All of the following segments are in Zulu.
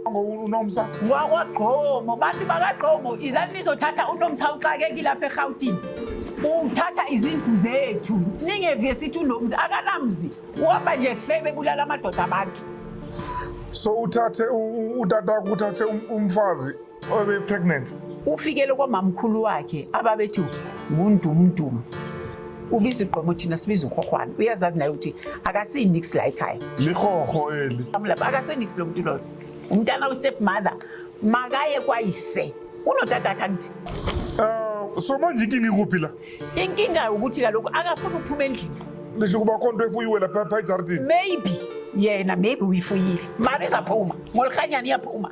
unomsa wakwagqomo bantu bakagqomo izantu izothatha unomsa uxakekile lapha erhawutini uthatha izintu zethu ningeviye sithi unomzi akanamzi uhamba nje febe bulala amadoda abantu so uthathe utata kuthathe um-, umfazi obe pregnant ufikele kwamamkhulu wakhe ababethi ngundumdum ubiza igqomo thina sibiza uhohwana uyazazi naye ukuthi akasinix la ekhaya lihoho eli amlapha akasinix lo muntu loyo umntana ustep mother makaye kwayise unotata kanti um so manje inkinga ikuphi la inkinga ukuthi kaloku akafuni ukuphuma endlini lisho kuba kho nto efuyiwe lapha ejardini maybe yena maybe uyifuyile mari izaphuma ngolihanyana iyaphuma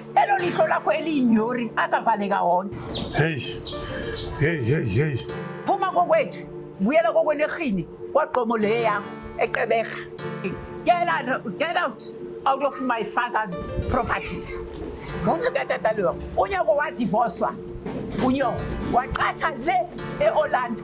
elo lihlo lakho eliyinyori asavaleka wonke heyi heyi heyi heyi phuma kokwethu buyela kokwenerhini kwagqomo le yakho eqeberha get out, get out out of my father's property ngomntu katata leyo unyoko wadivoswa unyoko waqasha le eorlando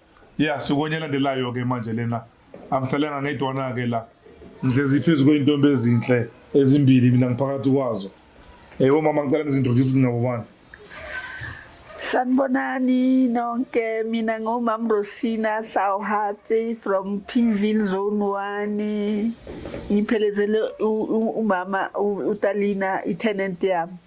ya sikonye elandelayo ke manje lena angihlalanga ngedwana ke la ngihlezi phezu kwey'ntombi ezinhle ezimbili mina ngiphakathi kwazo eyi omama ngicela ngizintroduce kunabo bani sanibonani nonke mina ngumam rosina sawhatsi from pinville zone one ngiphelezele umama utalina i-tenant yami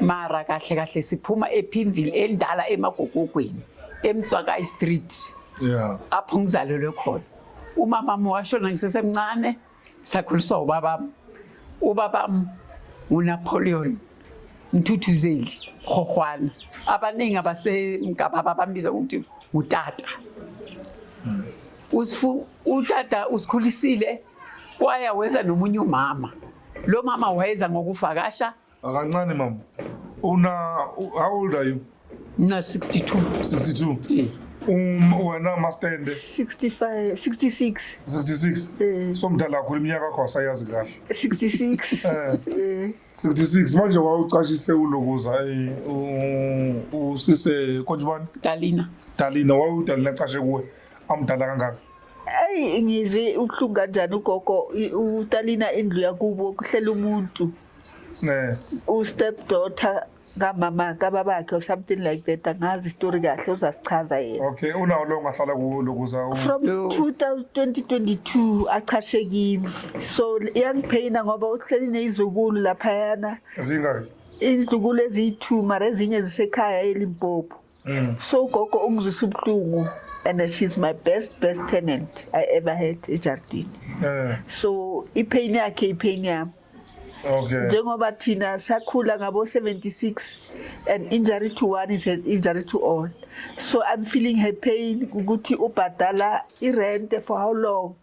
mara kahle kahle siphuma ephimville endala emagogogweni emtswakayi street yeah apho ngizalelwe khona umama wami washona ngisesemncane sakhuliswa ubaba ubaba nguNapoleon Mthuthuzeli Khohwana abaningi abasemgababa bambiza ukuthi ngutata hmm. usifu utata usikhulisile kwaya weza nomunye umama lo mama wayeza ngokuvakasha Akancane mama. Una how old are you? Na 62. 62. Mm. Um wena mastende 65 66 66. Eh. So mdala kakhulu iminyaka yakho asayazi kahle. 66 eh 66 eh. manje wawucashise ulokuza eh usise konjibani? Dalina. Dalina wawudalina cashe kuwe amdala kangaka. Hey ngizwe uhlunga kanjani ugogo utalina indlu yakubo kuhlela umuntu. Eh. U step daughter kamama kababakhe or something like that angazi story kahle uzasichaza yena okay unawo lo ngahlala kulo kuza from 2022 achashe kimi so iyangiphayina ngoba uhleli nezizukulu lapha yana zingaki izizukulu eziyi2 mara ezinye zisekhaya elimpopo Mm. So ugogo ungizwisa ubuhlungu and she's my best best tenant I ever had ejardini. Eh. So ipain yakhe ipain yami. Okay. Njengoba thina sakhula ngabo 76 and injury to one is an injury to all. So I'm feeling her pain ukuthi ubhadala irent for how long?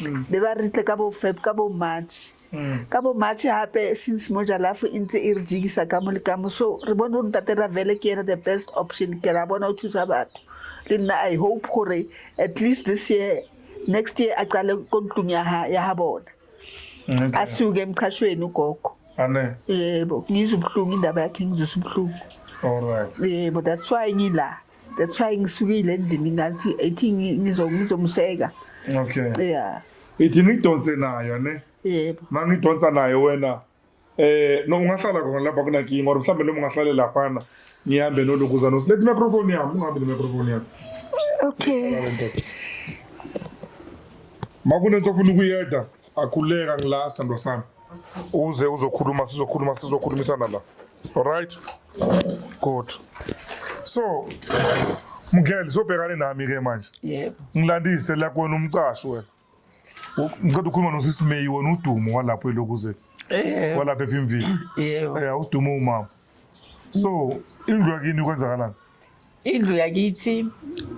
mm. be ba re tle ka bo feb ka bo march mm. ka bo march gape since mo jalafo e ntse e re jikisa ka mo le ka mo so re bone gore ntate ravele ke ena the best option ke ra bona o thusa batho le nna i hope gore at least this year next year a qale ko ntlong ya ga bona mm, a siuke emqhashweni ugogo yebo ngizwe ubuhlungu indaba yakhe ngizwisa ubuhlungu yebo that's why ngila that's why ngisukile endlini ngathi ethi ngizomseka okay yeah ithi ngidonse nayo ne yebo mangidonsa nayo wena eh no ungahlala khona lapha kuna king or mhlambe noma ungahlale lapha na ngihambe nolukuza no let microphone yami ungahambe ne microphone yami okay makunento ofuna ukuyeda Akhuleka ngila sithandwa sami. Uze uzokhuluma sizokhuluma sizokhulumisana la. Alright? Good. So Mngeli sobhekane nami ke manje. Yebo. Ngilandise la kwena umcasho wena. Ngicela ukhuluma nosisi May wona udumo walapho elokuze. Eh. Walapha ephimvini. Yebo. Eh udumo umama. so indlu yakini kwenzakalani indlu yakithi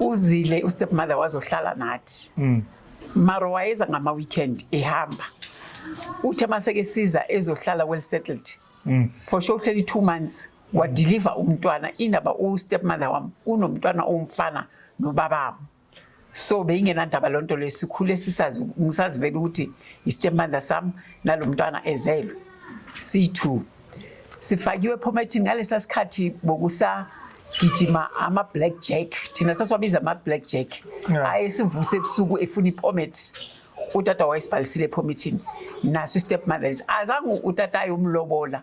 uzile ustep mother wazohlala nathi mm. maro wayeza ngama weekend ehamba uthe maseke siza ezohlala well settled mm. for sure uhleli 2 months wadeliver umntwana inaba u stepmother wam unomntwana omfana nobabam so beyingenandaba loo nto leyo sikhule sisazi ngisazivela ukuthi yistemandla sam nalo mntwana ezelwe siyi-two sifakiwe ephomathini ngalesa sikhathi bokusagijima ama-black jack thina sasiwabiza ama-black jack aye sivuse ebusuku efuna iphomet utata wayesibhalisile ephomethini naso istep mothers azange utata ayomlobola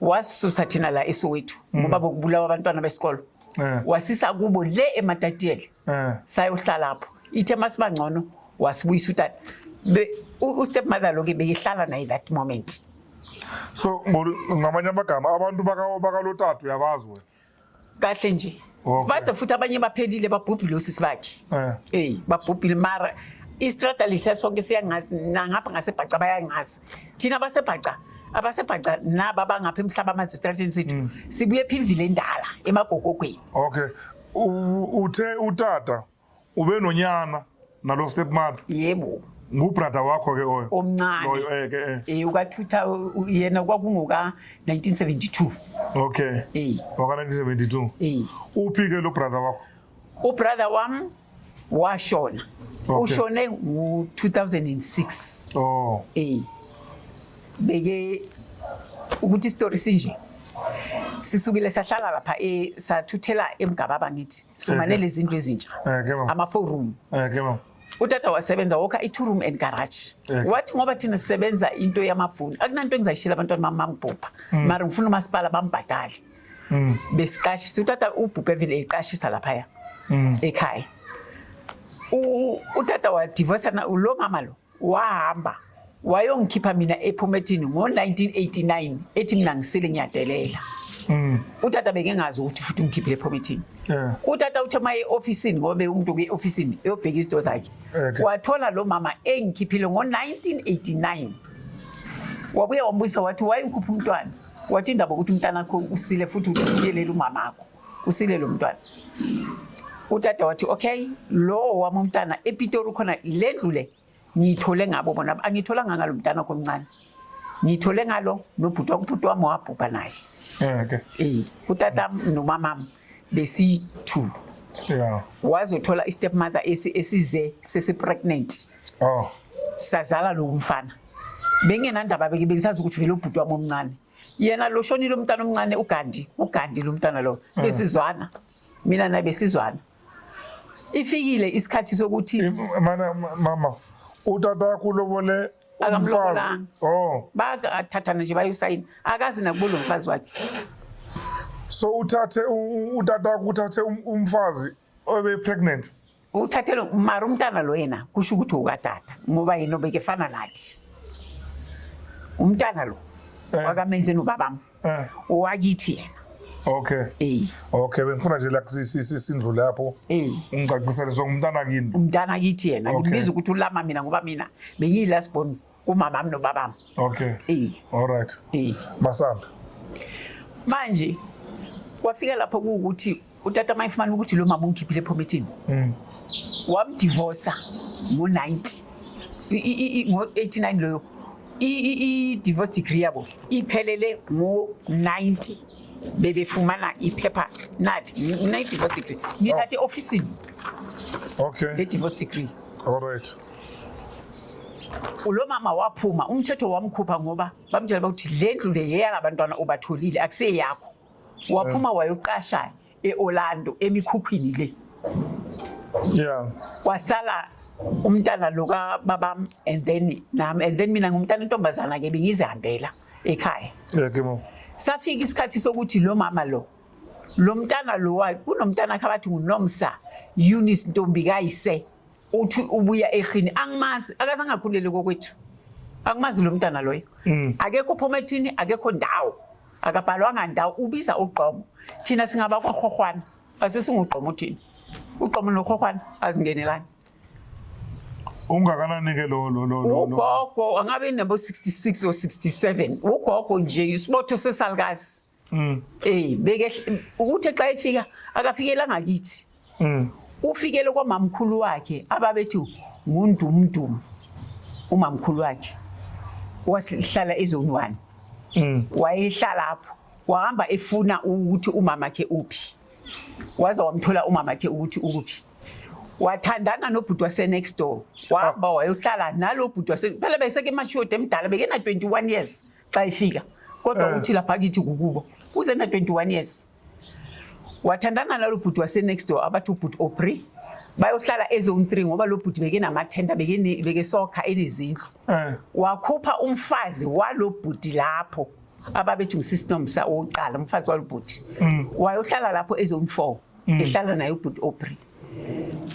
wasisusa thina la eSoweto mm. ngoba bokubulawa abantwana besikolo eh. wasisa kubo le eMatatiyele eh. sayohlala lapho ithe masibangcono wasibuyisa utata ustep mother lo ke beyihlala naye that moment so ngamanye amagama abantu bakalotatu yabazi wena kahle nje Okay. baze futhi abanye baphelile babhubhile osisi bakhe Eh. eyi babhubhile mara istrata lesiya sonke siyangazi nangapha ngasebhaca bayangazi thina abasebhaca abasebhaca naba abangapha emhlaba amanzi estrateni sethu Mm. sibuye phimvile endala emagogogweni Okay. U- Uthe utata Ube nonyana nalo stepmother. Yebo. ngubrother wakho ke oyo omncane loyo eh ke eh eh uka 2000 yena kwakungoka 1972 okay eh waka 1972 eh uphi ke lo brother wakho ubrother wam washona okay. ushone ngo 2006 oh eh beke ukuthi isitori sinje sisukile sahlala lapha e sathuthela emgababa ngithi sifumane okay. lezindlu ezintsha okay, eh, ama four room okay, eh, utata wasebenza wokha i-two room and garage okay. wathi ngoba thina sisebenza into yamabhuni akunanto engizayishela abantwana bami bangibhubha mm. mara ngifuna umasipala bambhadale mm. besiqashisa utata ubhubhe vele eqashisa laphaya mm. ekhaya utata wadivosa lo mama lo wahamba wayongikhipha mina ephomethini ngo-1989 ethi mina ngisile ngiyadelela mm. utata bekengazi ukuthi futhi ungikhiphile ephomethini utata uthe uma e-ofisini ngoba bewumuntu kwi-ofisini eyobheka izinto zakhe wathola lo mama engikhiphile ngo-1989 wabuye wambuza wathi wayekhupha umntwana wathi indaba ukuthi umntanakho usile futhi uthi uyelela umamakho usile lo mntwana utata wathi okay lowo wami umntana epitori khona le ndlu le ngiyithole ngabo bona angiyitholanga ngalo mntana wakho omncane ngiyithole ngalo nobhuti wakubhuti wami wabhubha naye eh, okay. um utata nomamam besi-two yeah. wazothola i-step mother esize sesi-pregnant oh. sazala lowo mfana bengenandaba beke bengisazi ukuthi vele ubhuti wami omncane yena lo shonile umntana omncane ugandi ugandi lo mntana lo mm. besizwana mina naye besizwana ifikile isikhathi sokuthi mana mama utata wakho ulobole umfazi oh bakathathana nje bayusayina akazi nakubo lo mfazi wakhe so uthathe utata wakho uthathe um, umfazi obe pregnant uthathele mara umntana lo yena kusho ukuthi ukatata ngoba yena obekefana nathi umntana lo eh. wakamenzeni ubabam eh. wakithi yena okay eh. okay bengifuna nje lakusisindlu lapho ungicacisele so ngumntana kini umntana kithi yena ngimbiza ukuthi ulama mina ngoba mina bengiyilasbon okay. kumamami nobabami okay eh all right eh masambe manje kwafika lapho ukuthi utata mayifumana ukuthi lo mama ungikhiphile ephomethini mm. wamdivosa ngo-90 ngo-89 loyo i-divorce degree yabo iphelele ngo-90 bebefumana iphepha nadi nine-divorce degree ngithathe e-ofisini okay le-divorce degree all right ulo mama waphuma umthetho wamkhupha ngoba bamtshela bakuthi le ndlu le yeyalabantwana obatholile akuseyakho waphuma eh. wayoqasha e-orlando emikhukhwini le yeah kwasala umntana lo kababam and then nami and then mina ngumntana intombazana ke bengizihambela ekhaya yeah kimo safika isikhathi sokuthi lo mama lo lo mntana lo kunomntana khabathi ngunomsa Eunice Ntombi kayise uthi ubuya ekhini angimazi akaze angakhulele kokwethu angimazi lo mntana loyo mm. akekho phoma ethini akekho ndawo akabhalwanga ndawo ubiza ugqomo thina singaba kwahwahwana asisingugqomo uthini ugqomo nohwahwana azingenelani ungakanani ke lo lo lo lo ugogo angabe nabo 66 or 67 ugogo nje isibotho sesalukazi Mm. Eh beke ukuthi xa efika akafikela ngakithi. Mm. Ufikele kwamamkhulu wakhe ababethi ngundumdum umamkhulu wakhe wasihlala ezone 1. Mm. Wayehlala lapho wahamba efuna ukuthi umama ke uphi. Waza wamthola umama ke ukuthi ukuphi. wathandana nobhuti wasenext door wahamba wayohlala nalo bhuti wase phela beseke emashoda emdala bekena 21 years xa efika kodwa eh. uthi lapha kithi kukubo uzena 21 years wathandana nalo bhuti wasenext door abathi ubhuti opri bayohlala ezone three ngoba lo bhuti bekenamathenda bekesokha enezindlu eh. wakhupha umfazi walo bhuti lapho ababethi ngusisinomsa owokuqala umfazi walo bhuti mm. wayohlala lapho ezone four mm. ehlala naye ubhuti Aubrey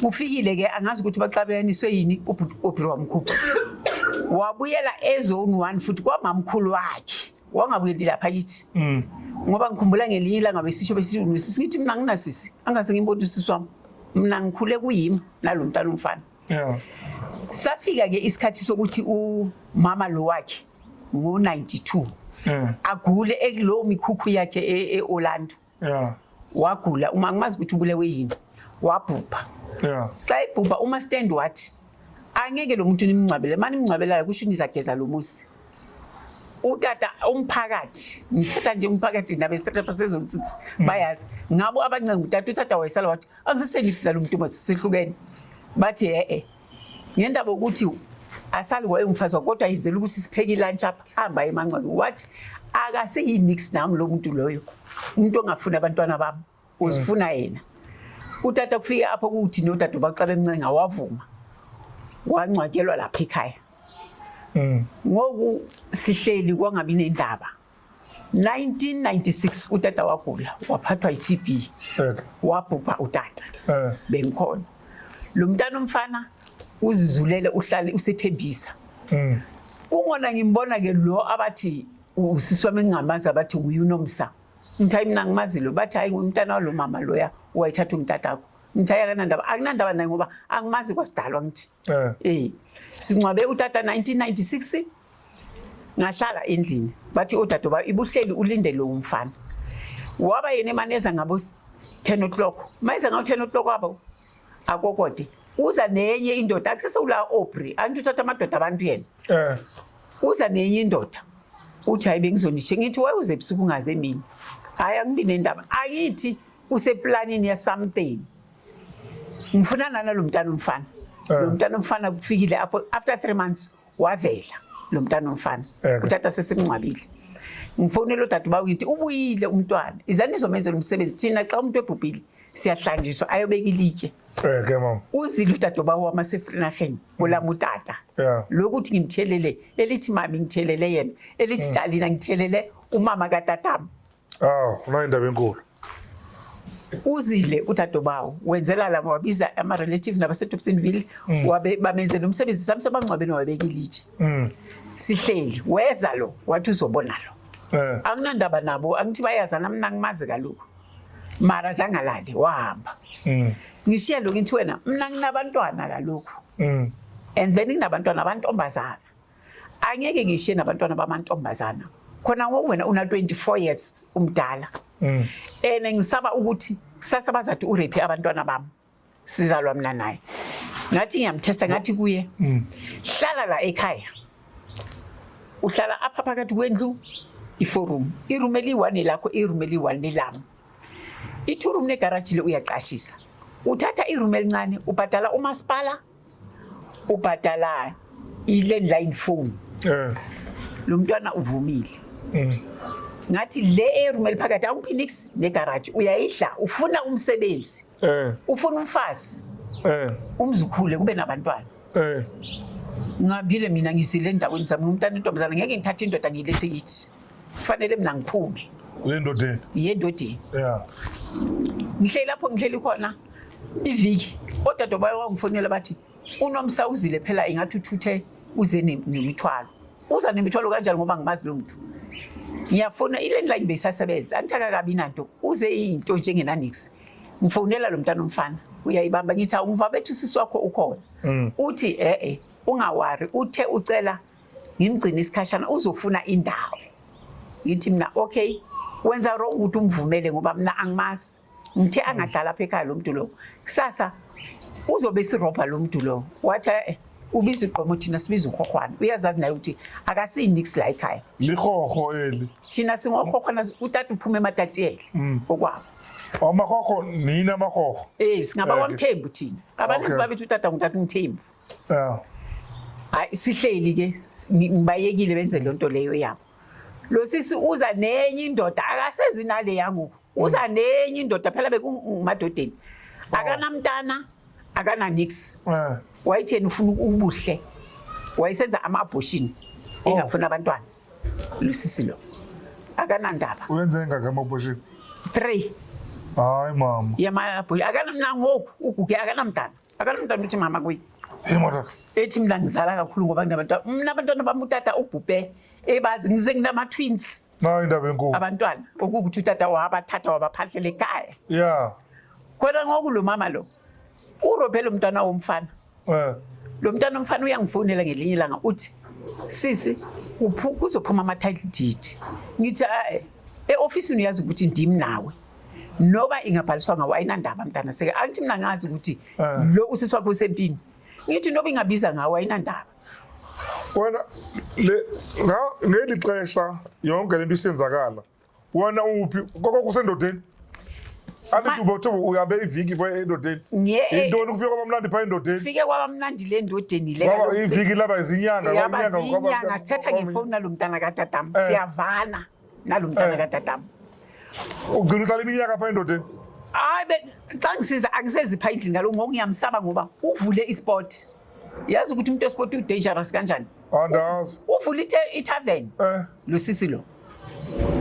ufikile ke angazi ukuthi baxabelaniswe yini ubhuti Aubrey wamkhupha wabuyela ezone 1 futhi kwamamkhulu wakhe wangabuyeli lapha kithi mm. ngoba ngikhumbula ngelinye ilanga besisho besithi unisisi ngithi mina nginasisi angaze ngimbona usisi wami mina ngikhule kuyimi nalo mntana umfana yeah. safika ke isikhathi sokuthi umama lo wakhe ngo-92 agule ekulowo mikhukhu yakhe e-orlando yeah. wagula uma ngimazi ukuthi ubulewe yini wabhubha yeah. xa ebhubha uma stand wathi angeke lo muntu nimngcwabele mani mngcwabelayo kusho nizageza lo muzi utata umphakathi ngithatha nje umphakathi nabe strata sezon 6 mm. bayazi ngabo abancenga utata utata wayesala wathi angisesenikisela lo muntu uma sihlukene bathi e-e ngendaba ukuthi asali wayengumfazi wakhe kodwa yenzela ukuthi sipheke ilunch apha hamba emancwane wathi akaseyinix nami lo muntu loyo umuntu ongafuni abantwana bami uzifuna mm. yena utata kufike apho kuthi nodade ubacala emncenga wavuma wangcwatshelwa lapha ekhaya mm. ngoku sihleli kwangabi nendaba 1996 utata wagula waphathwa yi-TB eh. wabhubha utata eh. bengikhona lo mntana omfana uzizulele uhlale usethembisa mm. kungona ngimbona ke lo abathi usisi wami engingamazi abathi nguye unomsa ngithi hayi mina ngimazi lo bathi hayi ngumntana walo mama loya wayithatha umtatakho ngithi hayi akanandaba akunandaba naye ngoba angimazi kwasidalwa ngithi um eh. eh. singcwabe utata 1996 ngahlala endlini bathi odadoba oh, ibuhleli ulinde lowo mfana waba yena emaneza ngabo 10 o'clock mayeza ngabo 10 o'clock wabo akokode uza nenye indoda akusese ula Aubrey anti uthatha amadoda abantu yena eh uza nenye indoda uthi hayi bengizonishe ngithi waye uze ebusuku ungaze emini hayi angibi nendaba angithi useplanini ya something ngifuna nana lo mntana umfana eh. lo mntana umfana kufikile after 3 months wavela lo mntana omfana utata sesimngcwabile ngifonela udade uba ngithi ubuyile umntwana izani izomenzela umsebenzi thina xa umuntu ebhubhile siyahlanjiswa ayobeka ilitye Eh ke mama. Uzile udadoba wami asefrinaheni olami utata. Yeah. Lokuthi ngimthelele elithi mami ngithelele yena elithi mm. dalina ngithelele umama katata. Ah, unayo indaba enkulu. Uzile udadobawo wenzela lama wabiza ama relative nabase Dobsonville mm. wabe bamenzela umsebenzi sami sebangcwabeni wabekile itshe. Mm. Sihleli weza lo wathi uzobona lo. Eh. Anginandaba nabo angithi bayazana mina ngimazi kaloku. Mara zangalali wahamba. Mm. Ngishiya lo ngithi wena mina nginabantwana kaloku. Mm. And then nginabantwana abantombazana. angeke ngishiye nabantwana bamantombazana khona ngoku wena una 24 years umdala mm. and ngisaba ukuthi kusasa bazathi urape abantwana bami sizalwa mina naye ngathi ngiyamthesta ngathi kuye mm. hlala la ekhaya uhlala apha phakathi kwendlu iforum iroom eliyi-one lakho iroom eliyi-one lelami i-two room negaraji le uyaqashisa uthatha iroom elincane ubhadala umasipala ubhadala i-landline phone eh. lo mntwana uvumile mm. ngathi le eyeroom eliphakathi awumphoenix negaraji uyayidla ufuna umsebenzi eh. ufuna umfazi eh. umzukhule kube nabantwana ngihambile mina ngizile endaweni zami ngumntana intombazana ngeke ngithathe indoda ngiyilethe kithi kufanele mina ngiphume uyendodeni yendodeni yeah ngihleli lapho ngihleli khona iviki odade bayo wangifonela bathi unomsa uzile phela ingathi uthuthe uze nemithwalo uza nemithwalo kanjani ngoba ngimazi lo muntu ngiyafona ilandline beyisasebenza angithaka kabi nanto uze into njengenanix ngifonela lo mntana omfana uyayibamba ngithi awungiva bethu sisi wakho ukhona mm. uthi e-e ungawari uthe ucela ngimgcine isikhashana uzofuna indawo ngithi mina okay wenza wrong ukuthi umvumele ngoba mina angimazi ngithe mm. angadlala apha ekhaya lo mntu lowo kusasa uzobe sirobha lo mntu lowo wathi eh ubiza igqomo thina sibiza uhohwana uyazazi naye ukuthi akasinix la ekhaya lihoho eli thina singohohwana utata uphuma ematateli mm. okwabo amahoho nina amahoho eh singaba eh, kwamthembu thina abantu sibabethi utata ngutata umthembu Yeah. Hayi sihleli ke ngibayekile benze lonto leyo yabo. Lo sisi uza nenye indoda akasezi nale yangu. Uza mm. nenye indoda phela bekumadodeni. Oh. Akanamntana, akana nix. Eh. Wayitheni ufuna ubuhle. Wayisenza ama abortion. Oh. Engafuna abantwana. Lo sisi lo. Akanandaba. Uyenze engaka ama abortion? 3. Hayi mama. Yama abortion. Akanamnangoku uguge akanamntana. Akalo mntana uthi mama kuyi. Yini motata? Ethi mina ngizala kakhulu ngoba nginabantwana. Mina abantwana bami utata ubhubhe ebazi ngize nginama twins. Nayo indaba enkulu. Abantwana okukuthi utata wabathatha wabaphahlela ekhaya. Yeah. Kodwa ngoku lo mama lo urobhe lo mntwana womfana. Eh. Lo mntwana womfana uyangifonela ngelinye ilanga uthi sisi kuzophuma ama-title deed ngithi ae e-ofisini uyazi ukuthi ndim nawe noba ingabhaliswanga wayinandaba mntana seke angithi mina ngazi ukuthi ah. lo usisi wakho usempini ngithi noba ingabiza ngawo wayinandaba wena le ngeli xesha yonke lento isenzakala wena uphi koko kusendodeni andithi ubothi uyabe iviki pha endodeni yintoni kufike kwabamnandi pha endodeni fike kwabamnandi le ndodeni leiviki laba izinyanga inyanga sithetha ngefowuni nalo mntana katatam eh. siyavana nalo mntana eh. kadadam ugcina uhlala iminyaka pha endodeni hayi be xa ngisiza angisezipha endlini ngalo ngoku ngiyamsaba ngoba uvule isport yazi ukuthi umuntu esport udangerous kanjani andazi uvule itavern eh. lo sisi lo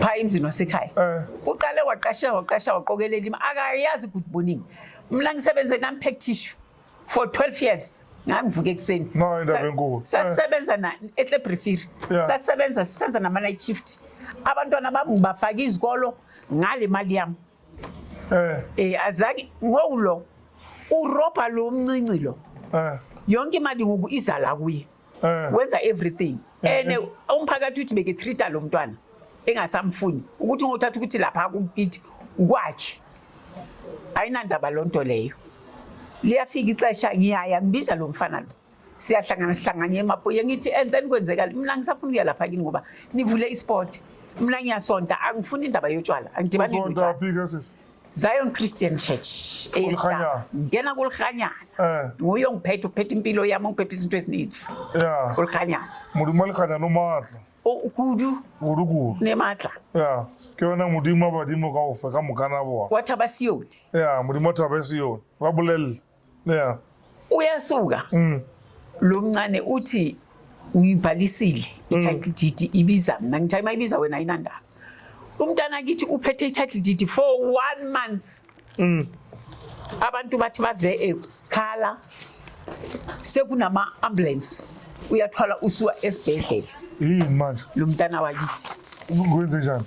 pha emzini wasekhaya eh. uqale waqasha waqasha waqokelela ima akayazi good morning mna ngisebenze nam-pack tissue for 12 years ngangivuka ekuseni No, indaba Sa- enkulu. sasebenza na etlebrifiri Yeah. sasebenza sisenza nama-night shift abantwana bami ngibafaka izikolo ngale mali yami Eh, um azange ngowulo urobha lo mncinci lo eh. yonke imali ngoku iza la kuye eh. wenza everything eh, and umphakathi uthi beke treata lo mntwana engasamfuni ukuthi ngothatha ukuthi lapha kukithi ukwakhe ayinandaba lo nto leyo liyafika ixesha ngiyaya ngibiza lo mfana lo siyahlangana sihlanganye emapoye ngithi and then kwenzekala mina ngisafuna ukuya lapha kini ngoba nivule isport mina ngiyasonta angifuni indaba yotshwala angidibani Zion Christian Church Kulirhanyana. ngena kulirhanyana Eh. nguye ongiphethe uphethe impilo yami ongiphethe izinto ezininzi ya kulirhanyana modimo wa lekganya lo maatla O- kudu kudu-kudu ne matla ya ke yona modimo wa badimo ka ofe ka mokana bona wa thaba sione ya modimo wa thaba e se yone ba bolelele yeah uyasuka mm. lo mncane uthi ngibhalisile mm. i-title deed ibiza mina ngithayi uma ibiza wena ayinandaba umntana kithi uphethe i-title deed for one month mm. abantu bathi bave ekhala sekunama-ambulance uyathwala usuka esibhedlela yini manje lo mntana wakithi kwenze njani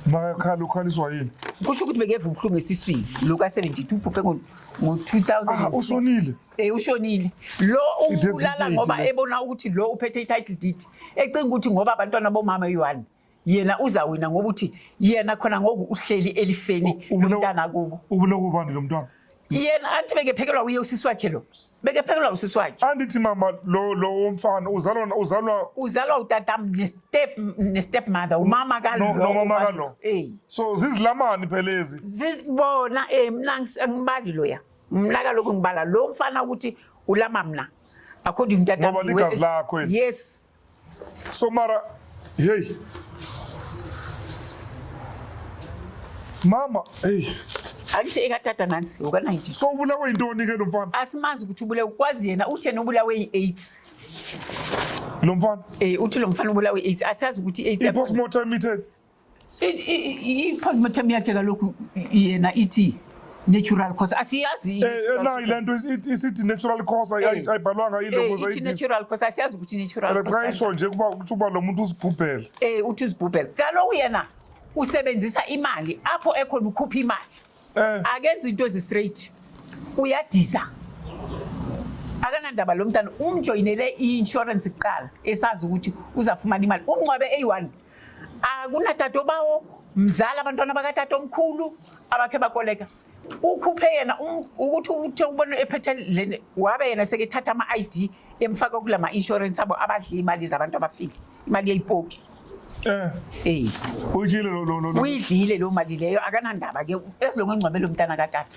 makakhala ukhaliswa yini kusho ukuthi bengeva ubuhlungu esiswini lo ka-72 uphuphe ngo-2000 ah, ushonile um ushonile lo ubulala ngoba ebona ukuthi lo uphethe i-title deed ecinga ukuthi ngoba abantwana bomama yi-one yena uzawina ngokuthi yena khona ngoku uhleli elifeni lomntana kubo ubulokubani lo mntwana yena athi bekephekelwa uye usisi wakhe lo bekephekelwa usisi wakhe andithi mama lo lo womfana uzalwa uzalwa uzalwa utatam nestep nestep mother umama ka lo no mama ka lo eh so zizilamani phelezi zizibona eh mina ngibali lo ya mina kaloku ngibala lo mfana ukuthi ulama mina according to ngoba ligazi lakho yes so mara hey mama hey angithi ekatata nansi ukanayiti so ubulawe yintoni ke lo mfana asimazi ukuthi ubulawe kwazi yena uthena ubulawe yi-aids lo mfana eh uthi lo mfana ubulawe i-aids asazi ukuthi i-aids i-postmortem itheni i-postmortem yakhe kalokhu yena ithi natural cause asiyazi eh, eh, nayi le nto isithi natural cause eh. ayibhalwanga ilogoznatural cause asiyazi ukuthi natural xa isho nje kuba kutho uba lo muntu uzibhubhele um uthi uzibhubhele kaloku yena usebenzisa imali apho ekhona ukhupha imali akenza into ezistraight uyadiza akanandaba lo mntana umjoyinele i-inshorensi kuqala esazi ukuthi uzafumana imali umnqwabe eyi-one akunatata obawo mzala abantwana bakatata omkhulu abakhe bakoleka ukhuphe yena um, ukuthi uthe ubona ephethe leni wabe yena sekethatha ama-id emfaka kula ma-insurance abo abadla iy'mali zabantu abafile imali yeyipoki Eh. Hey. Uyidlile lo lo lo. Uyidlile lo mali leyo akanandaba ke esilongo ingcwabelo mntana katata.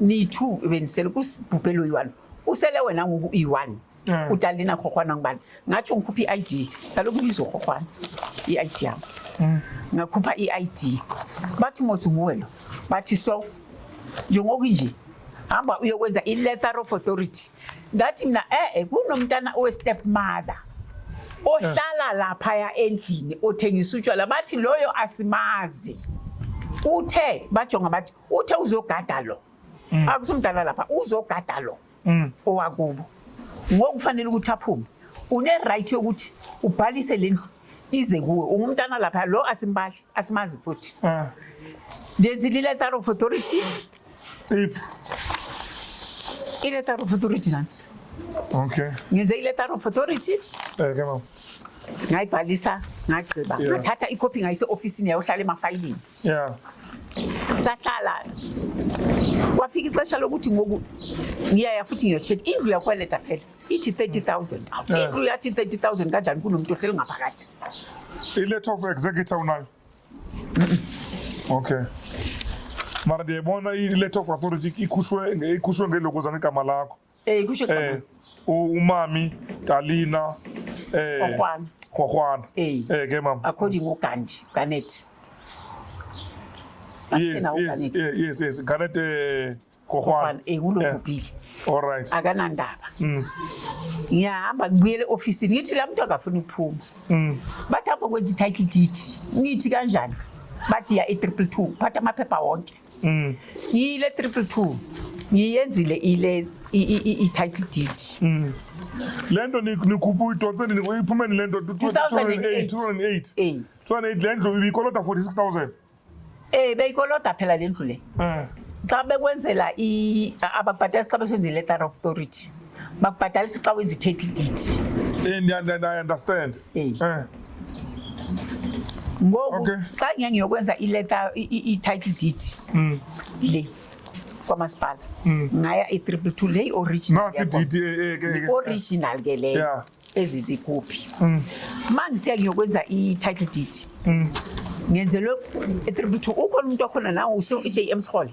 niyi-two benisele kusibhubhe lo yi-one usele wena ngoku iyi-one Eh. utalina rhorhwana ngubani ngatsho ngikhupha i-i d kaloku ibiza urhorhwana i-i d yam hmm. ngakhupha i-i d bathi mos nguwe lo bathi so njengokunje hamba uyokwenza i-letter of authority ngathi mna e-e kunomntana owe-step mother ohlala eh. laphaya endlini othengisa utshwala bathi loyo asimazi uthe bajonga bathi uthe uzogada lo mm. akusumdala lapha uzogada lo mm. owakubo ngokufanele ukuthi aphume une right yokuthi ubhalise lendlu ize kuwe ungumntana lapha lo asimbali asimazi futhi ah. ndenzi letter of authority iletter of authority nansi okay ngenze iletter of authority eh ke mama ngayibhalisa ngagqiba ngathatha ikhophi ngayise ofisini yayohlala emafayilini yeah sahlala kwafika ixesha lokuthi ngoku ngiyaya futhi ngiyotshekha indlu yakweleta phela ithi 30000 indlu yathi 30000 kanjani kunomntu ohleli ngaphakathi iletter of executor unayo okay mara ndiyayibona i-letter of authority ikhushwe ikhushwe ngelokozana igama lakho Eh kusho eh umami Talina eh Khwana Khwana eh ke mama according uGanji Ganet Yes yes eh, yes yes Ganet eh Khwana eh kulokubili eh, All right akanandaba mm. ngiyahamba ngibuyele ofisini ngithi la muntu akafuni ukuphuma mm. bathi hamba kwenza i-title deed ngithi kanjani bathi ya i-triple two phatha amaphepha wonke Mm. ngiyile triple two ngiyenzile ile i- i- i- i-title deed Le nto ni- nikhuphe uyidonse nini? Iphume nini le nto? 2008. 2008. Eh. 2008 le ndlu ibikolota 46,000. um beyikolota phela le ndlu le Eh. xa bekwenzela i- ababhatali xa besenzela i-letter of authority bakubhadalisa xa wenza i-take deed Eh, ndiya- ndiya- ndiya- I understand. Eh. Eh, ngoku Okay. xa ngeke ngiyokwenza ileta i- i- i-title deed mm, le kwamasipala ngaya i-triple two le original Nathi yakwa- DD, eh, eh, eh, eh, eh. original ke leyo Yeah. ezi zikuphi Mm. ma ngisiya ngiyokwenza i-title deed mm. ngenzelwe i-triple two ukhona umuntu wakhona nawo use-j m sihole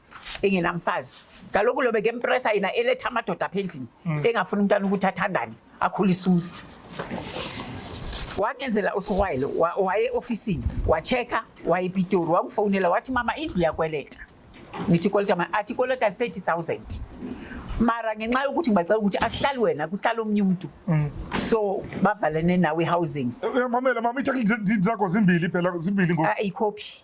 engenamfazi kaloku lobe ke mpresa yena eletha amadoda apha endlini mm. engafuni umntana ukuthi athandane akhulise umsi wangenzela usiwayile waye ofisini watsheka wayepitori wangifowunela wathi mama indlu yakweleta ngithi koleta ma athi koleta 30000 mara ngenxa yokuthi ngibacela ukuthi ahlali wena kuhlala omnye umntu mm. so bavalene nawe housing eh, eh, mamela mama ithi zakho zimbili phela zimbili ngoba ayikhophi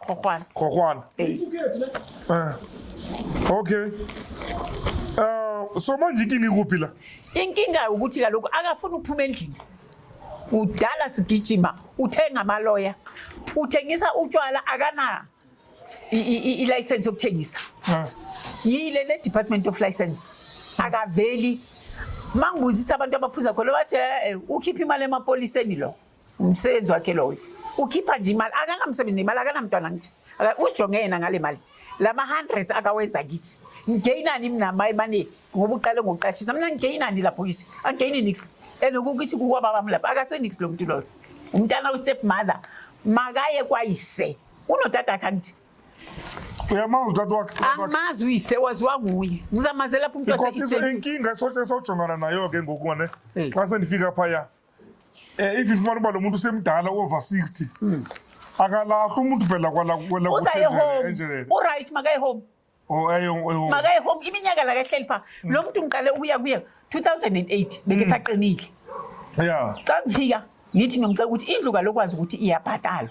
Kokwana. Kokwana. Hey. Eh. Okay. Uh, so manje inkinga ikuphi la? Inkinga ukuthi kaloku akafuni ukuphuma endlini. Udala sigijima, uthenga amaloya. Uthengisa utshwala akana i license yokuthengisa. Eh. Yile le Department of License. Akaveli mangibuzisa abantu abaphuza khona bathi eh, eh, ukhipha imali emapoliseni lo Umsebenzi wakhe loyo. Ukhipha nje imali, akanamsebenzi nemali, akanamntwana nje. Usijonge yena ngale mali. Lama 100 akawenza kithi. Ngigeyinani mina maye mane ngoba uqale ngokuqashisa. Mina ngigeyinani lapho kithi. Angigeyini nix. Enokukithi kuwa baba mlapha akasenix lo muntu loyo. Umntana we step mother makaye kwayise. Unodada kanti. uyamazi utata wakhe angimazi uyise waziwa nguye ngizamaze lapho umntu waseiseinkinga esojongana nayo ke ngoku ngane xa sendifika phaya Eh if ifumana uba lo muntu usemdala over 60. Mm. Akalahle umuntu phela kwala kwala kuthi enjele. U right makaye home. Oh ayo ayo. Makaye home iminyaka la kahleli pha. Hmm. Lo muntu ngiqale ukuya kuye 2008 beke hmm. saqinile. Yeah. Xa ngifika ngithi ngimcela ukuthi indlu kalokwazi ukuthi iyabhatalwa.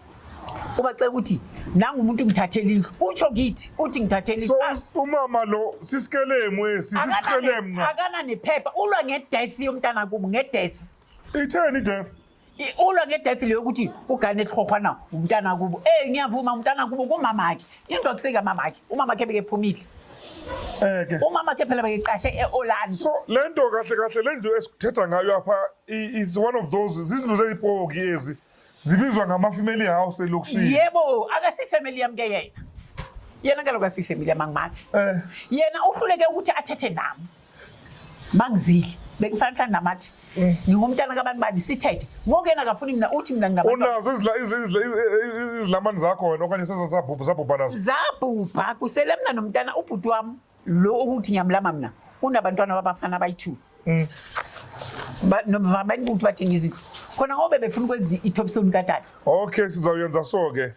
ubacela ukuthi nangu umuntu ngithathela indlu utsho ngithi uthi ngithathela so ah. umama lo sisikelemu esi sisikelemu nca akana nephepha ulwa ngedeath yomntana kubo ngedeath itheni ideath ulwa ngedeath leyo ukuthi ugane ehlopha na umntana kubo eh ngiyavuma umntana kubo kumama wakhe into akuseka mama wakhe umama wakhe bekephumile Eke. Umama ke phela beyiqashe eOrlando. So lento kahle kahle lendlu esithetha ngayo apha is one of those izindlu zezipoki ezi. zibizwa ngama-family house elokishini yebo akasifamily yami ke yena yena kaloku asifamily yami angimazi Eh. yena uhluleke ukuthi athethe nami mangizile bekufanele mhlawumbe namathi Eh. ngingumntana kabantu bani sithethe ngoku yena akafuni mina uthi mina ngingabantu unazo izila- izi- izila- izi- izilamani zakho wena okanye sezasabhubha sabhubha nazo zabhubha kusele mna nomntana ubhuti wami lo ukuthi ngiyamlama mina unabantwana babafana abayi-two mm. baningi ukuthi bathenga izindlu khona ngobe befuna ukwenza i-topstone katata okay sizawuyenza so-ke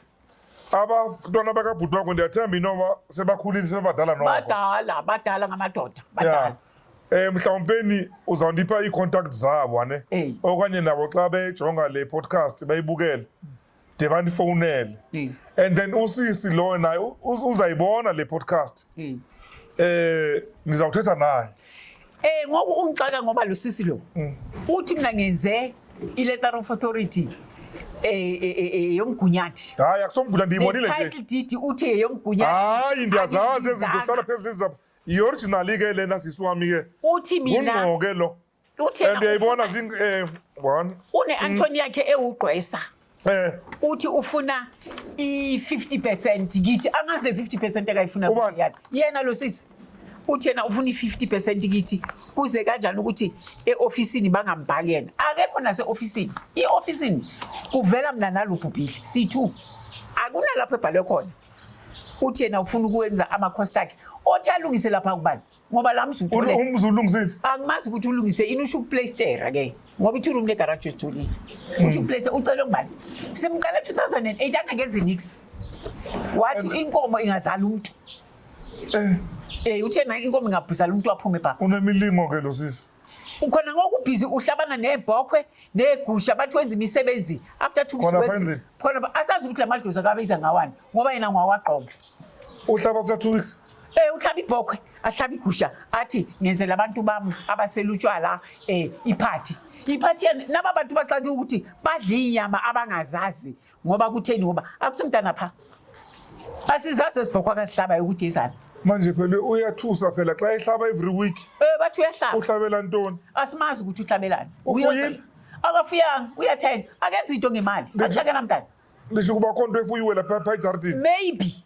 abantwana bakabhuti wakho ndiyathemba inoma sebakhulile sebebadala noko badala badala ngamadoda badala Eh mhlawumpeni uzawundipha iicontact zabo ane okanye nabo xa bejonga le podcast bayibukele de bandifonele mm. and then usisi loyo naye uzayibona le podcast mm. eh ngizawuthetha naye eh ngoku ungixaka ngoba lo sisi lo mm. uthi mina ngenze i letter of authority eh, eh, eh yomgunyathi hayi akusomgunyathi ndiyibonile nje title deed uthi yeyomgunyathi hayi ndiyazazi ezinto kusala phezulu izaba i-original ke lena sisi wami ke uthi mina ngqoke lo Uthe and uyayibona zing eh one une Anthony yakhe ewugqwesa eh uthi ufuna i50% ngithi angazi le 50% akayifuna Ubani? kuyani yena lo sisi uthi yena ufuna i50% ngithi kuze kanjani ukuthi eofisini bangambhali yena akekho nase ofisini iofisini kuvela mina nalubhubhile C2 akunalapho ebhalwe khona uthi yena ufuna ukwenza ama cost akhe othi alungise lapha kubani ngoba la mzi Ul- umzi ulungisile angimazi ukuthi ulungise ini usho ukuplaystera ke ngoba i-two room legaraji uthulile Hmm. usho ukuplaystera ucele ngubani simqala 2008 angakenzi nix wathi inkomo ingazala umntu Eh, um uthe naye inkomo ingabhuzala umntu aphume bhaba unemilingo ke lo sisi ukhona ngoku busy uhlabana nebhokhwe negusha abantu wenza imisebenzi after two weeks khona asazi ukuthi lamadoza kabe iza ngawani ngoba yena ngwawaqobo uhlaba after two weeks eh uhlaba ibhokhwe ahlaba igusha athi ngenzela abantu bami abaselutshwala eh iphathi iphathi naba bantu baxake ukuthi badla inyama abangazazi ngoba kutheni ngoba akusumntana pha asizazi ezibhokho akazihlaba yokuthi izana manje phela uyathusa phela xa ehlaba every week um bathi uyahlaba uhlabela ntoni asimazi ukuthi uhlabelani ufuyile akafuyanga uyathenga akenza into ngemali akushakela mntana lisho ukuba khonto efuyiwe lapha pha ejardini maybe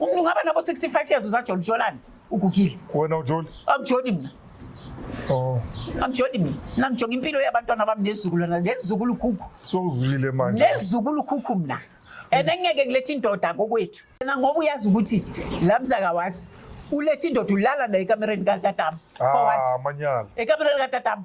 Umuntu ungaba nabo 65 years usajoli jolani ugugile. Wena ujoli? Angijoli mina. Oh. Angijoli mina. Nangijonga impilo yabantwana bami nezizukulwana nezizukulu khukhu. So uzwile manje. Nezizukulu khukhu mina. And engeke kulethe indoda kokwethu. Mina ngoba uyazi ukuthi lamza kawazi ulethe indoda ulala naye ekamereni katatama. Ah, manyala. Ekamereni katatama.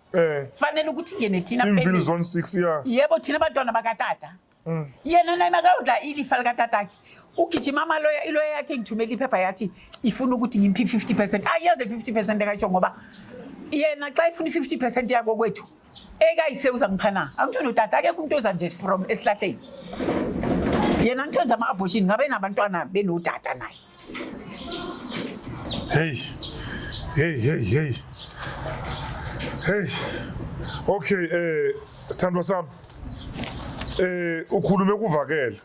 eh fanele ukuthi ngene thina family imvili zone 6 yeah yebo thina abantwana bakatata mm. yena naye makayodla ilifa likatata akhe ugijima amaloya iloya yakhe ngithumela iphepha yathi ifuna ukuthi ngimpi 50 percent ayiyade 50 percent ekayitsho ngoba yena xa ifuna i-50 percent yako kwethu ekayise uzangipha na angithoni utata akekho umuntu oza nje from esihlahleni yena ngithonza ama-abortion ngabe nabantwana benodata naye Hey. Hey, hey, hey. Hey. Okay, eh sithandwa sami. Eh ukhulume kuvakele.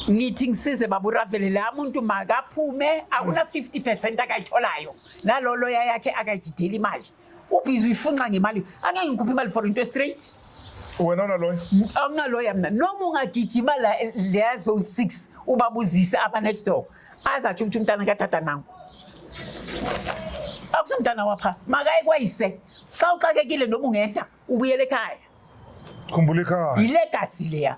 ngithi ngisize baba uravele la muntu makaphume akuna 50 percent akayitholayo naloloya yakhe akayidideli imali ubhizi uyifunxa ngemali angeke ngikhuphe imali for into straight wena unaloya anginaloya mna noma ungagijima la leya zone six ubabuzise aba next door azatsho ukuthi umntana katata nangu akusomntana wapha makaye kwayise xa uxakekile noma ungeda ubuyele ekhaya khumbula ikhaya yilegasi leya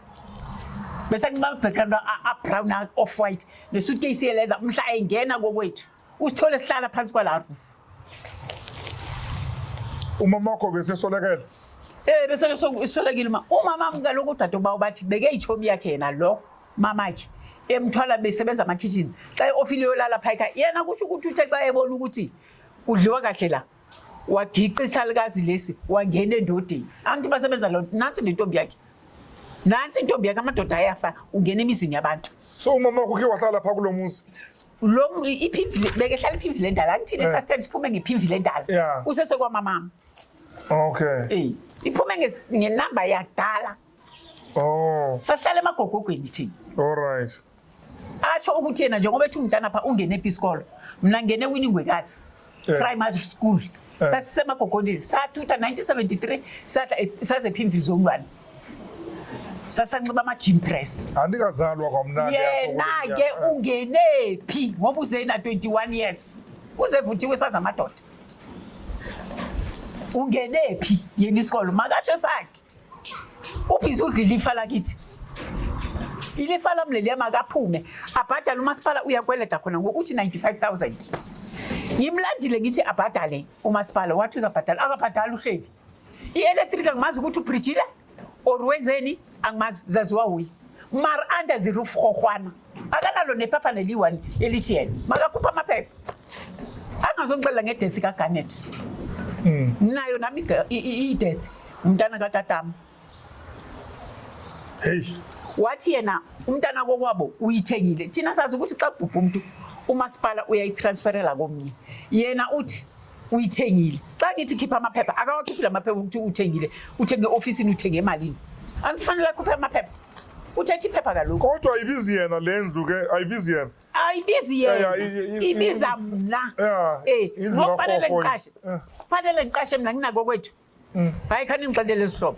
bese nginabhekana abrown off white nesuitcase yeleather umhla ayingena kokwethu usithole sihlala phansi kwala roof umama wakho bese solekela eh bese solekile uma umama amukela ukuthi adoba ubathi beke ichomi yakhe yena lo mama ke emthwala besebenza ama kitchen xa ofile yolala phayika yena kusho ukuthi uthe xa ebona ukuthi kudliwa kahle la wagiqa isalukazi lesi wangena endodeni angithi basebenza lo nansi le ntombi yakhe nansi intombi yakhe amadoda ayafa ungena emizini yabantu so umama wakho ke wahlala pha kulo muzi lo iphimvile bekehlala iphimvile endala angithini eh. sasithanda siphume ngephimvile endala usesekwamamama okay iphume ngenamba yakudala Oh, Sahlala emagogogweni thina. all right. Asho ukuthi yena njengoba ethi umntana pha ungene ephi isikolo. Mina ngene winingwekathi. Eh. Primary school. Eh. Sasisemagogondini. Sathutha 1973 sadla e- saze ephimvili zomntwana. Sasanxiba ama gym dress. Andikazalwa kwamnandi apha kule Yena ke minyaka. ungene phi ngoba uzena 21 years. Uzevuthiwe saza amadoda. Ungene phi yena isikolo makatsho sakhe. ubhizi udla ilifa lakithi ilifa lami leliya makaphume abhadale umasipala uyakweleda khona ngokuthi 95000 ngimlandile ngithi abhadale umasipala wathi uzabhadala akabhadali uhleli i-electric angimazi ukuthi ubrijile or wenzeni angimazi zaziwa wuye mar under the roof rhohwana akanalo nephapha leliyi-one elithi yena makakhupha amaphepha angazongixelela ngedethi kagarnet hmm. nayo nami idethi umntana katatama heyi wathi yena umntana kokwabo uyithengile thina sazi ukuthi xa kubhubha umntu umasipala uyayitransferela komnye yena uthi uyithengile xa ngithi khipha amaphepha akawakhiphi la maphepha ukuthi uthengile uthenge ofisini uthenge emalini angifanele akhuphe amaphepha uthethe iphepha kaloku kodwa ayibizi yena le ndlu ke ayibizi yena ayibizi Yeah, yena yeah, i- i- ibiza i- mna Yeah, Eh, indlu ngoku kagogo fanele yena. ngiqashe Yeah. fanele ngiqashe mna nginako kwethu hayi khani ngixelele isihlobo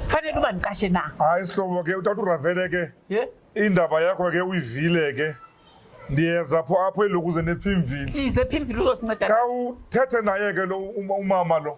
fanele uba ndiqashe na hayi sihlobo ke utata uravele ke ye indaba yakho ke uyivile ke ndiyeza pho apho elokuze nephimvile ize phimvile uzosinceda ka uthethe naye ke lo uma- umama lo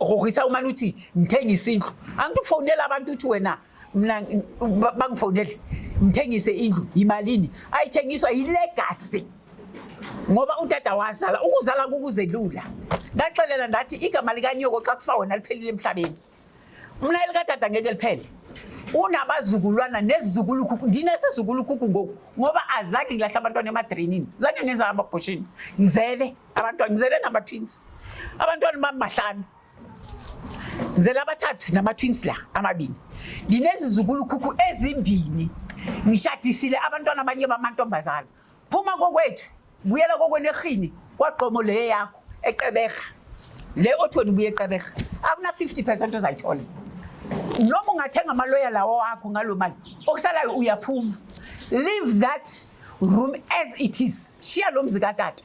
Rorisa umane uthi ngithengisa indlu. Angithi ufonela abantu uthi wena mina bangifonele ngithengise indlu yimalini ayithengiswa yilegacy ngoba udada wazala ukuzala kukuzelula ndaxelela ndathi igama likanyoko xa kufa wena liphelile emhlabeni mna elikadada ngeke liphele unabazukulwana nezizukulu khukhu ndinezizukulu khukhu ngoku ngoba azange ngilahla abantwana emadrenini zange ngenza amabhoshini ngizele abantwana ngizele nama-twins abantwana bami bahlanu ngizele abathathu nama-twins la amabini nginezizukulukhukhu ezimbini ngishadisile abantwana abanye bamantombazana phuma kokwethu buyela kokwenerhini kwaqomo le yakho eqeberha le othweni ubuye eqeberha akuna-50 percent ozayithola noma ungathenga amaloya lawo wakho ngalo mali okusalayo uyaphuma leave that room as it is shiya lo mzi katata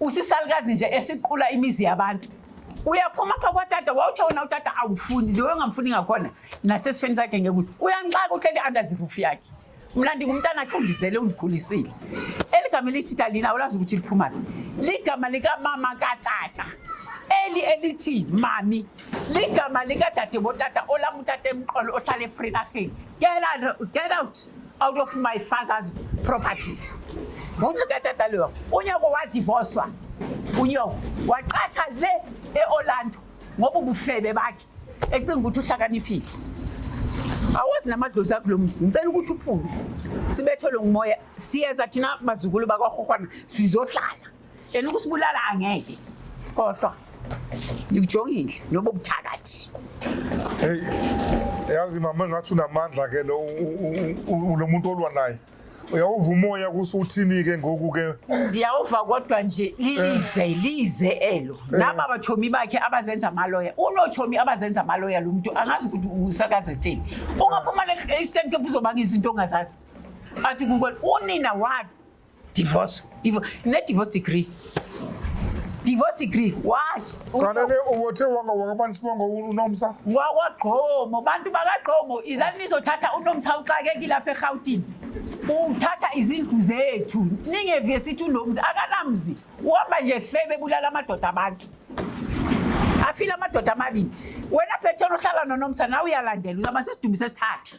usisalukazi nje esiqula imizi yabantu uyaphuma apha kwatata wawuthe wona utata awufuni lewe ongamfuni ngakhona nasesifeni sakhe ngekuthi uyanixaka uhleli under the roof yakhe mna ndingumntana khe undizele undikhulisile eli gama elithi talina ulazi ukuthi liphumaphi ligama likamama katata eli elithi mami ligama likadade botata olam utata emqolo ohlala efrinarheni get out out of my father's property ngoba katata loyo unyoko wadivoswa unyoko waqasha le e-orlando ngoba ubufebe bakhe ecinga ukuthi uhlakaniphile awazi namadlozi akulo mzi ngicela ukuthi uphume sibethelwe ngumoya siyeza thina bazukulu bakwahohwana sizohlala yena ukusibulala angeke kodwa ngikujongile noba ubuthakathi hey yazi mama engathi unamandla ke lo lo muntu olwa naye uyawuva umoya kusuthini ke ngoku ke ndiyawuva kodwa nje lize eh. lize elo eh. naba batshomi bakhe abazenza amaloya unotshomi abazenza amaloya lo mntu angazi ukuthi usakazetheni ungaphuma le-stem eh. camp uzobanga izinto ongazazi athi kukwena unina walo divorce divorce ne divorce degree divorce degree why qanele ubothe wanga wakabani sibongo unomsa wakwagqomo bantu bakagqomo izani nizothatha unomsa uxakekile lapha eGauteng uthatha izindlu zethu ningeviye sithi unomzi akanamzi uhamba nje febe bulala amadoda abantu afile amadoda amabili wena phethela uhlala nonomsa nawe uyalandela uzaba sesidumise sithathu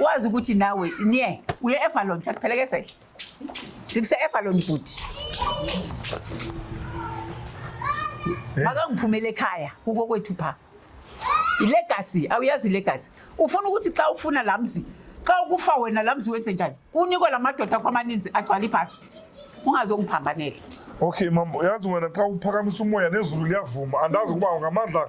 wazi ukuthi nawe nye uye evalon sakuphelekesele sikuse evalon bhuti eh? makangiphumele ekhaya kuko kwethu pha ilegasi awuyazi ilegasi ufuna ukuthi xa ufuna la mzi xa ukufa wena la mzi wenze njani unikwe la madoda akho amaninzi agcwala ibhasi ungazokuphambanela okay mam yazi wena xa uphakamisa umoya nezulu liyavuma andazi ukuba ngamandla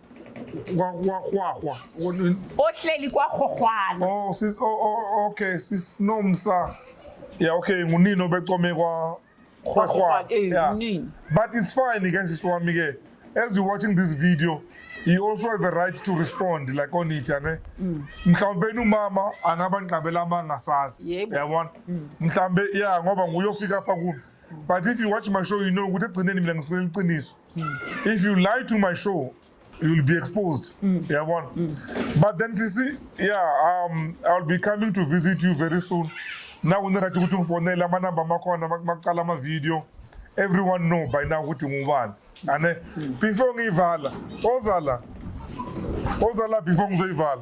kwahwahwa ohleli kwahwahwana oh sis oh, oh, oh okay sis nomsa yeah okay ngunini obecome kwa hwahwa eh, yeah but it's fine again sis wami ke as you watching this video you also have a right to respond like on it ne mm. mhlawumbe umama angaba nqabela amanga sazi yabona mm. mhlawumbe yeah ngoba nguyofika apha kubi but if you watch my show you know ukuthi egcineni mina ngifuna iqiniso if you lie to my show you'll be exposed mm. yabona mm. but then sisi yeah um, i'll be coming to visit you very soon now unirati ukuthi ungifonele amanamba amakhona makuqala amavidiyo everyone know by now ukuthi ngubani ane mm. before ngiyivala ozala ozala before ngizoyivala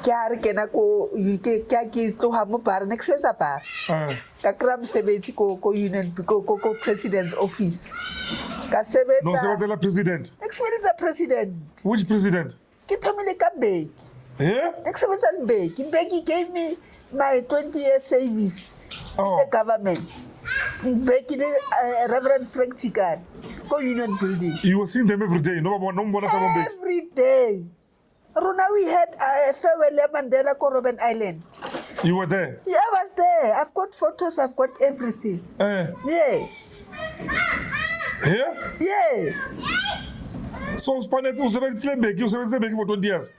Ke a re ke na ko ke ke a ke tloga mo bar ne ke sebetsa bar Eh. ka kry-a mosebetsi ko ko union ko ko ko president's office ka sebetsa No sebenzela president. ne ke sebeletsa president Which president? ke thomile ka mbeki Eh? ne ke sebetsa le mbeki mbeki gave me my 20 year service Oh. in the government mbeki le uh, reverend frank chikane ko union building You were seeing them every day. No baba no mbona ka bombe. every day Runa, we had a farewell at Mandela ko Robben Island. You were there? Yeah, I was there. I've got photos, I've got everything. Eh. Yes. Here? Yes. So uspanetse usebenzisile mbeki usebenzisile mbeki for 20 years.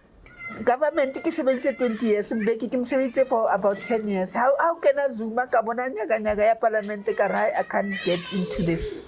Government ke sebeditse 20 years, mbeki ke msebeditse for about 10 years. How how can I zuma ka bona nyaka nyaka ya parliament ka ra I can't get into this.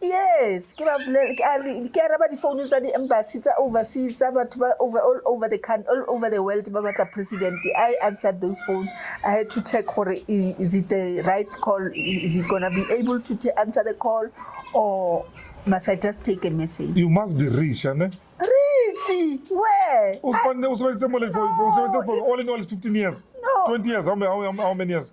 Yes, ke ba bolele ke a re ke araba difounu tsa di-embassy tsa overseas tsa batho ba over all over the country all over the world ba batla president i answered those phone i had to check gore i- is it the right call I- is it gonna be able to ta- answer the call or must i just take a message you must be rich ane Richie, where usibonile usebenzise mole for for- usebenzise for all in all 15 years No. 20 years how many how many- how many years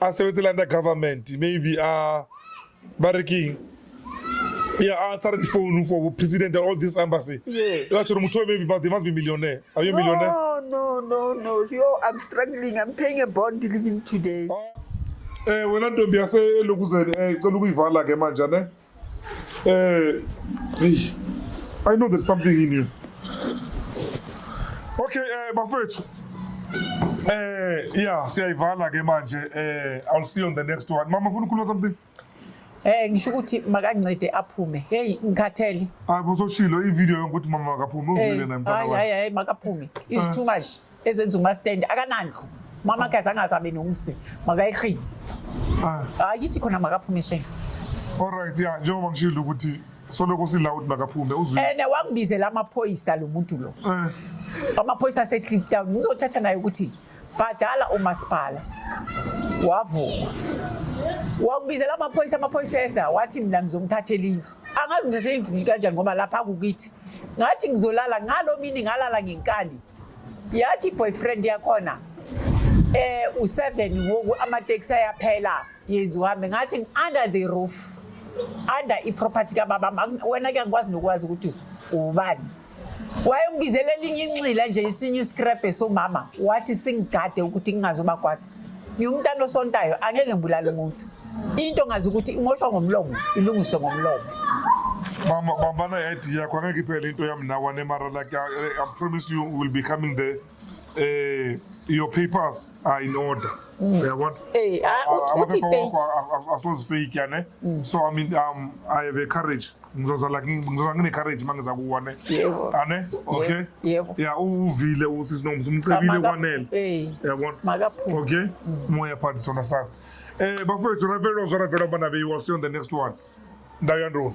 a sebetsela under government maybe a ba re keng ya a tshare difounu for president all this embassy Yeah. ba tshore motho o maybe but they must be millionaire are you a millionaire No, no, no, no. Yo, I'm struggling. I'm paying a bond living today. eh wena ntombi yase elokuzeni eh cela ukuyivala ke manje ne Eh, hey, I know there's something in you. Okay, eh bafethu. Eh, yeah, siyayivala ke manje. Eh, I'll see you on the next one. Mama, ufuna ukukhuluma something? Eh ngisho ukuthi makancede aphume. Hey ngikhathele. Hayi bososhilo ivideo yonke ukuthi mama akaphume uzwile naye mntana wakhe. Hayi hayi makaphume. It's too much. ezenza umastendi akanandlu mama kaze angazabe nomsi makayirhini Ah, ayithi khona makaphume shame alright ya njengoba ngishilo ukuthi soloko sila ukuthi makaphume uzwi and wangibizela amaphoyisa lo muntu lo Eh, amaphoyisa asecape town ngizothatha naye ukuthi bhadala umasipala wavuma wangibizela amaphoyisa amaphoyisa eza wathi mina ngizomthathela indlu angazi ngithathela indlu kanjani ngoba lapha kukithi ngathi ngizolala ngalo mini ngalala ngenkani yathi boyfriend yakhona eh u7 ngoku ama taxi ayaphela yezi uhambe ngathi under the roof under i property ka baba wena ke ngikwazi nokwazi ukuthi ubani wayengibizela elinye inxila nje isinye iscrap somama wathi singigade ukuthi ngingazobakwazi Ngiwumntana osontayo angeke ngibulale umuntu. Into ngazi ukuthi imoshwa ngomlomo ilungiswe ngomlomo. Mama bambana yayithi yakho angeke iphele into yami nawe nemara like I, I promise you will be coming there eh your papers are in order mm. uyabona eh ah, uthi fake asozifake yane mm. so i mean um i have a courage ngizoza la ngizoza ngine courage mangiza kuwone yebo ane okay yebo ya uvile usisi nomzi umcebile kwanele eh yabona makaphume okay mm. moya phansi sona sakho eh bafethu ravelo zona velo bana beyiwa see on the next one ndayo ndona